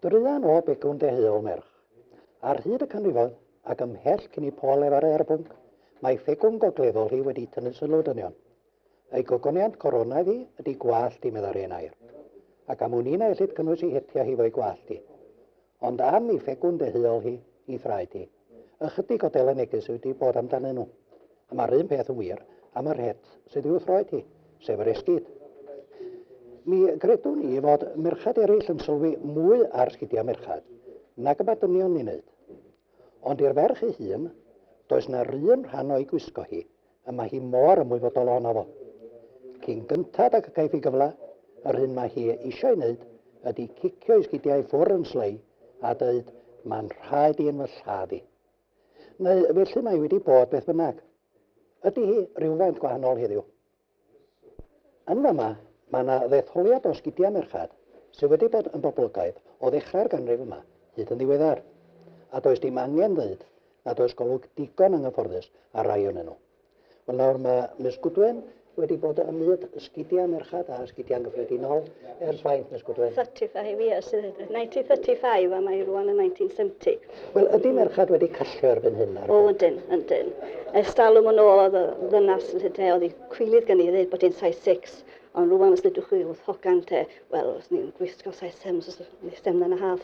Druan o begwn deheuol merch. Ar hyd y canrifoedd, ac ymhell cyn i Paul lefaru ar y pwnc, mae ffegwm gogleddol hi wedi tynnu sylw dynion. Ei gogoniant coronaidd hi ydy gwallt hi, meddai'r hen air. Ac am wn i na ellid cynnwys ei hetia hi fo'i gwallt hi. Ond am ei fegwn fe huol hi, ei thraed hi. Ychydig o dele neges yw wedi bod amdanyn nhw. A mae'r un peth yn wir am yr het sydd i'w throed hi, sef yr esgid. Mi gredwn i fod merched eraill yn sylwi mwy ar sgidiau merched nag y mae dynion ni'n neud. Ond i'r ferch ei hun, does na'r un rhan o'i gwisgo hi A mae hi mor ymwybodol ohono fo. Cyn gynted ag y caiff hi gyfle, yr hyn mae hi eisiau'i wneud ydi cicio'i sgidiau i ffwrdd yn slei a deud, 'Mae'n rhaid i yn fy lladd i. Neu felly mae hi wedi bod beth bynnag. Ydi hi rywfaint gwahanol heddiw? Yn fama, mae yna ddetholiad o sgidiau merched sydd wedi bod yn boblogaidd o ddechrau'r ganrif yma hyd yn ddiweddar. A does dim angen dweud nad oes golwg digon anghyfforddus ar rai ohonyn nhw. Wel nawr mae Miss Goodwin wedi bod ym myd sgidiau merched a sgidiau'n gyffredinol ers faint Miss Goodwin? 35 years, 1935 a mae rwan yn 1970. Wel ydy merched wedi callio erbyn hyn ar y O, yndyn, yndyn. Ers dalwm yn ôl oedd y ddynas yn lle oedd hi cwilydd gen i ddweud bod hi'n size 6, ond rwan os ddydwch chi wrth hogan te, wel, os ni'n gwisgo size 7, os ni'n stem yn y haf,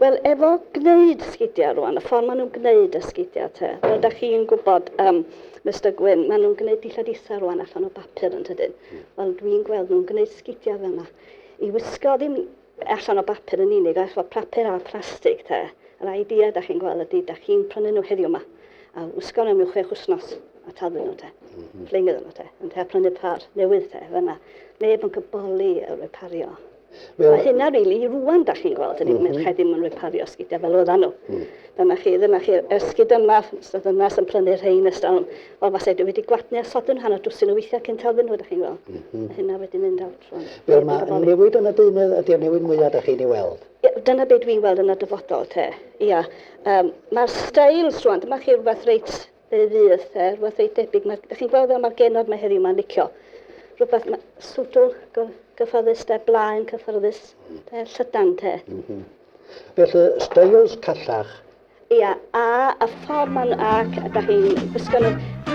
Wel, efo gwneud sgidiau rwan, y ffordd maen nhw'n gwneud y sgidiau te. Fel da chi'n gwybod, um, Mr Gwyn, maen nhw'n gwneud dillad isa rwan allan o bapur yn tydyn. Hmm. Wel, dwi'n gweld nhw'n gwneud sgidiau fel yna. I wisgo ddim allan o bapur yn unig, a efo papur a phlastig te. Yr idea da chi'n gweld ydy, da chi'n prynu nhw heddiw yma, a wisgo nhw mewn chwech wsnos a taflu nhw te. Mm -hmm. Fling iddyn nhw te. Yn te, a prynu par newydd te, fyna. Neb yn cyboli y repario. Well, a hynna rili, really, rwan da chi'n gweld, hynny, mm -hmm. merched ddim yn repario sgidiau fel oedden nhw. Mm. Dyna chi, dyna chi, y sgid yma, ystod yma sy'n prynu rhain ystod stalwm, o fasai dwi wedi gwadnu a sodyn hanner dwsin o weithiau cyn talfyn nhw, da chi'n gweld. Mm -hmm. A hynna wedi mynd awr trwy. Wel, mae newid yn y deunydd, ydy'r newid mwyaf da chi'n ei weld? Dyna beth dwi'n weld yn y dyfodol, te. Ia, um, mae'r stails rwan, dyma chi rhywbeth reit Fe fydd e rhywbeth reit debyg. Mae, da chi'n gweld fel mae'r genod mae heddiw mae'n licio. Rhywbeth mae swdl gyfforddus te, blaen cyfforddus te, llydan te. Mm -hmm. Felly, styles callach. Ia, a, a ffordd ma'n ac a da chi'n gwisgo nhw,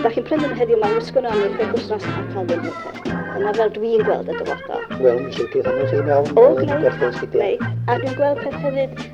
da chi'n prynu nhw heddiw mae'n gwisgo nhw am eich wythnos a cael ddim nhw te. Dyna fel dwi'n gweld y dyfodol. Wel, mi sicr hynny sy'n iawn. O, gwneud, gwneud. A dwi'n gweld peth hefyd,